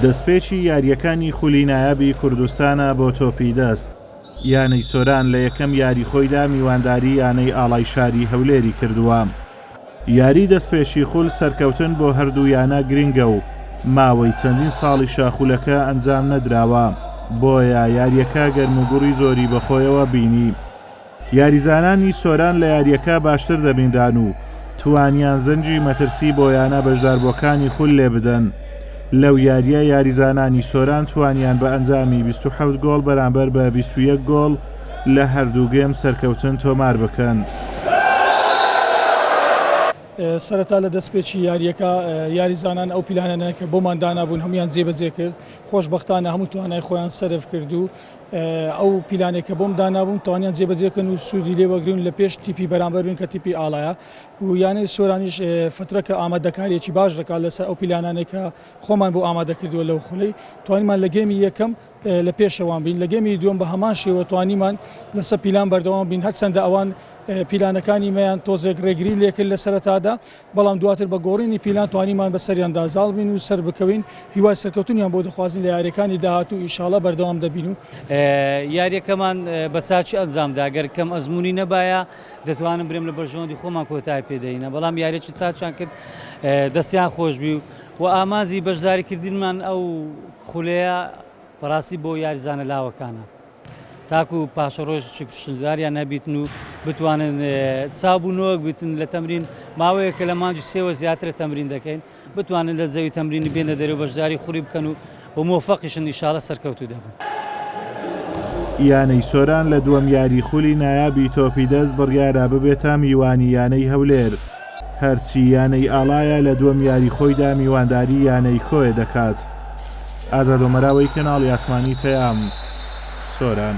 دەستپێکی یارییەکانی خولی نایابی کوردستانە بۆ تۆپی دەست، یانەی سۆران لە یەکەم یاری خۆیدا میوانداری یانەی ئاڵای شاری هەولێری کردووە، یاری دەستپێکی خول سەرکەوتن بۆ هەردوو یانە گرنگە و ماوەی چەندین ساڵیشە خولەکە ئەنجام نەدراوە، بۆیە یارییەکە گەرموگوڕی زۆری بەخۆیەوە بینی. یاریزانانی سۆران لە یارییەکە باشتر دەبینران و توانیان زەنگی مەترسی بۆ یانە بەشداربووەکانی خول لێبدەن، لەو یارییە یاریزانانی سۆران توانیان بە ئەنجامی بیست و حەوت گۆڵ بەرامبەر بە بیست و یەک گۆڵ لە هەردوو گێم سەرکەوتن تۆمار بکەن. سەرەتا لە دەستپێکی یارییەکە یاریزانان ئەو پیلانانەیان کە بۆمان دانابوون هەموویان جێبەجێ کرد، خۆشبەختانە هەموو توانای خۆیان سەرف کرد و ئەو پیلانەی کە بۆم دانابوون توانیان جێبەجێ بکەن و سوودی لێ وەگرن و لە پێش تیپی بەرامبەر بن کە تیپی ئاڵایە و یانەی سۆرانیش فترە کە ئامادەکاریەکی باش دەکات لەسەر ئەو پیلانانێک کە خۆمان بۆ ئامادە کردووە لەو خولەی توانیمان لە گەمی یەکەم لە پێشەوان بین لە گەمی دووەم بە هەمان شێوە توانیمان لەسەر پیلان بەردەوام بین هەرچەندە ئەوان پیلانەکانی مەیان تۆزێک ڕێگری لێکرد لە سەرەتادا بەڵام دواتر بە گۆڕینی پیلان توانیمان بەسەریاندا زاڵ بین و سەربکەوین، هیوای سەرکەوتنیان بۆ دەخوازین لە یاریەکانی داهاتوو ئیشاڵا بەردەوام دەبین و. یاریەکەمان بە چاکی ئەنجامدا، گەر کەم ئەزموونی نەبایە دەتوانم برێم لە بەرژەوەندی خۆمان کۆتایی پێ دەهینا، بەڵام یاریەکی چاکیان کرد دەستیان خۆشبی و ئامانجی بەشداریکردنمان ئەو خولەیە بەڕاستی بۆ یاریزانە لاوەکانە. تاکو پاشەڕۆژ شکرشکداریان نەبیتن و بتوانن چاو و نۆک بتن لە تەمرین ماوەیە کە لە مانجی سێوە زیاترە تەمرین دەکەین بتوانن لە زەوی تەمرینی بێنە دەرەوە بەشداری خوری بکەن و و مۆفەقیشن نیشاالە سەرکەوتو دەبن. یانەی سۆران لە دووەم یاری خولی نایابی تۆپی دەست بڕیارە ببێتە میوانی یانەی هەولێر. هەرچی یانەی ئاڵایە لە دووەم یاری خۆیدا میوانداری یانەی کۆیە دەکات. ئازاد ئۆمەراوەی کەناڵی ئاسمانی پەیام، سۆران.